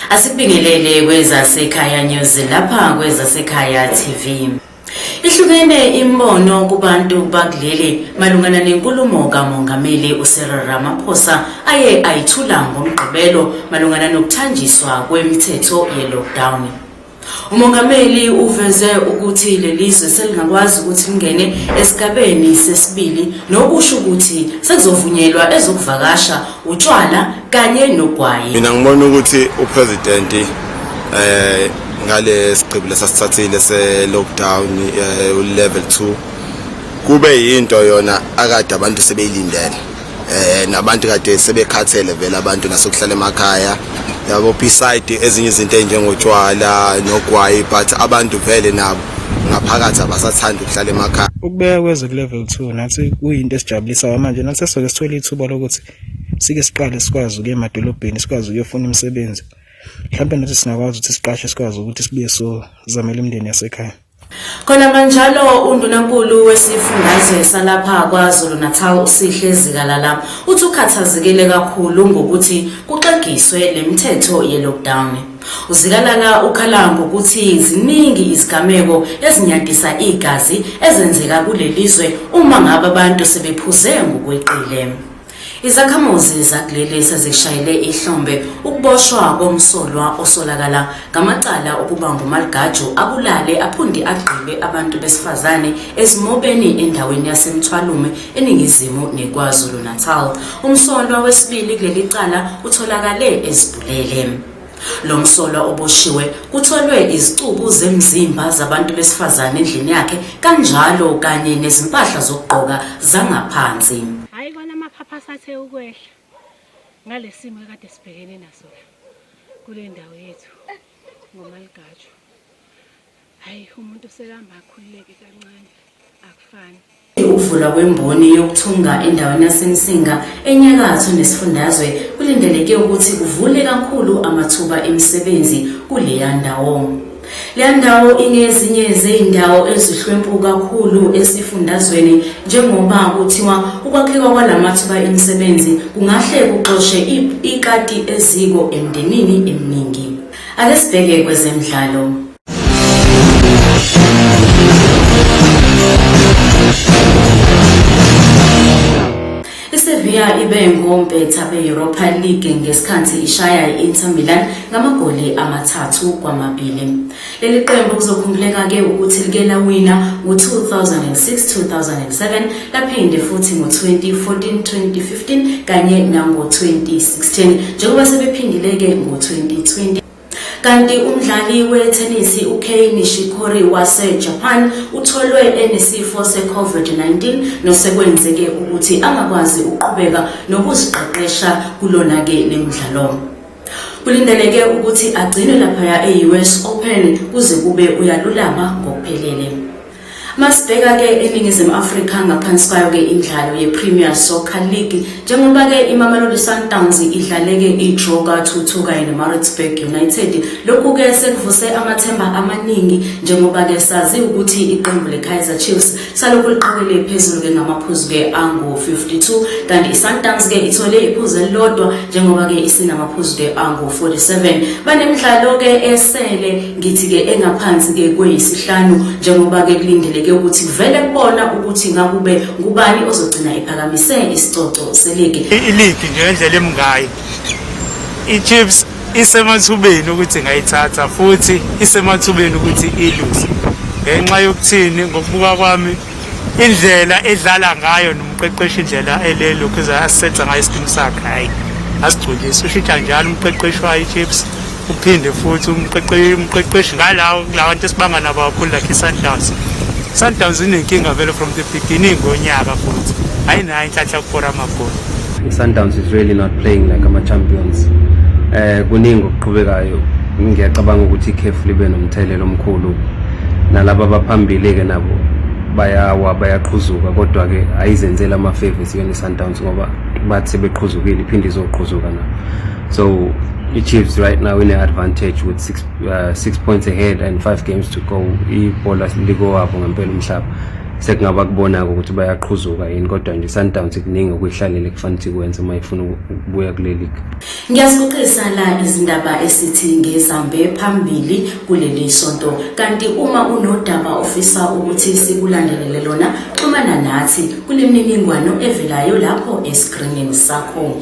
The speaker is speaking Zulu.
Asibingelele kwezasekhaya news lapha kwezasekhaya TV. Ihlukene imbono kubantu bakuleli malungana nenkulumo kaMongameli uCyril Ramaphosa aye ayithula ngoMgqibelo malungana nokuthanjiswa kwemithetho ye-lockdown. UMongameli uveze ukuthi leli zwe selingakwazi ukuthi lingene esigabeni sesibili nokusho ukuthi sekuzovunyelwa ezokuvakasha, utshwala kanye nogwayi mina ngibona ukuthi upresident eh ngale sigqibo lesasithathile se lockdown eh, level 2 kube yinto yona akade abantu sebeyilindele eh nabantu kade sebekhathele vele abantu nasokuhlala emakhaya yabo beside ezinye izinto enjengotshwala nogwayi but abantu vele nabo ngaphakathi abasathanda ukuhlala emakhaya ukubeka kwezwe ku level 2 nathi kuyinto esijabulisa manje nathi soke sithola ithuba lokuthi sike siqale sikwazi ukuya emadolobheni sikwazi ukuyofuna imisebenzi mhlawumbe nathi singakwazi ukuthi siqashe sikwazi ukuthi sibuye sozamela imindeni yasekhaya khona manjalo undunankulu wesifundazwe salapha kwazulu natal usihle zikalala uthi ukhathazekile kakhulu ngokuthi kuxegiswe le mithetho ye-lockdown UZikalala ukhala ngokuthi ziningi izigameko ezinyadisa igazi ezenzeka kuleli zwe uma ngabe abantu sebephuze ngokweqile. Izakhamuzi zakuleli sezishayele ihlombe ukuboshwa komsolwa osolakala ngamacala okuba ngumaligaju abulale aphunde agqibe abantu besifazane esimobeni endaweni yaseMthwalume eningizimu neKwaZulu-Natal. Umsolwa wesibili kuleli cala utholakale ezibhedlela. Lele Lo msolwa oboshiwe kutholwe izicubu zemzimba zabantu besifazane endlini yakhe kanjalo kanye nezimpahla zokugqoka zangaphansi. Hayi kona amaphapha asathe ukwehla ngalesimo ekade sibhekene naso la kule ndawo yethu ngomaligajwa. Hayi umuntu usekamba akhululeke kancane akufani. Ukuvulwa kwemboni yokuthunga endaweni yaseMsinga enyakatho nesifundazwe kulindeleke ukuthi kuvule kakhulu amathuba emisebenzi kuleya ndawo. Le ndawo ingezinye zezindawo ezihlwempu kakhulu esifundazweni njengoba kuthiwa ukwakheka kwalamathuba emisebenzi kungahle kuxoshe ikati eziko emndenini eminingi. Ake sibheke kwezemidlalo. Sevilla ibe ngompetha be-Europa League ngesikhathi ishaya i-Inter Milan ngamagoli amathathu kwamabili. Leli qembu kuzokhumbuleka-ke ukuthi like lawina ngo-2006-2007 laphinde futhi ngo-2014, 2015 kanye nango-2016 njengoba sebephindile-ke ngo-2020 kanti umdlali wethenisi ukei nishikori wasejapan utholwe enesifo se-covid-19 nosekwenzeke ukuthi angakwazi ukuqhubeka nokuziqeqesha kulona-ke le mdlalo kulindeleke ukuthi agcinwe laphaya e-us open kuze kube uyalulama ngokuphelele Masibheka-ke eNingizimu Afrika ngaphansi kwayo-ke imidlalo ye-Premier Soccer League njengoba-ke iMamelodi Sundowns idlaleke i-draw ka-2-2 kanye neMaritzburg United. Lokhu-ke sekuvuse amathemba amaningi njengoba-ke sazi ukuthi iqembu le-Kaizer Chiefs salokhu liqhawele phezulu-ke ngamaphuzu-ke angu-52 kanti i-Sundowns-ke ithole iphuzu elilodwa njengoba-ke isinamaphuzu-ke angu-47. Banemidlalo-ke esele Ngithi-ke engaphansi-ke kweyisihlanu njengoba-ke kulindeleke ukuthi kuvele kubona ukuthi ngakube ngubani ozogcina ephakamise isicoco seligi. Iligi nje ngendlela emngayo iChiefs isemathubeni ukuthi ingayithatha futhi isemathubeni ukuthi iluse ngenxa yokuthini ngokubuka kwami indlela edlala ngayo nomqeqeshi indlela elelokhu asetha ngayo isikimu sakhe hhayi asigculisi ushitsha njalo umqeqeshi wayo iChiefs uphinde futhi umqeqeshi ngalawo kulawa nto esibanga nabo kakhulu lakhe i-sundowns sundowns inenkinga vele from the beginning ngonyaka futhi ayinayo inhlanhla kukora amagoli i-sundowns is really not playing like ama-champions um kuningi okuqhubekayo ngiyacabanga ukuthi ikhefu libe nomthelela omkhulu nalaba abaphambili-ke nabo bayawa bayaqhuzuka kodwa-ke ayizenzeli amafevi siyona i-sundowns ngoba bathi sebeqhuzukile iphinde izoqhuzuka nabo So iChiefs right now in advantage with 6 uh, six points ahead and 5 games to go. Ibhola likowabo ngempela umhlaba. Sekungaba kubona ukuthi bayaqhuzuka yini kodwa nje Sundowns kuningi okuyihlalele kufanele ikwenze uma ifuna ukubuya kule league. Ngiyasiqisa la izindaba esithi ngezambe phambili kuleli sonto. Kanti uma unodaba ofisa ukuthi sikulandelele lona, xhumana nathi kuleminingwano evelayo lapho e-screening sakho.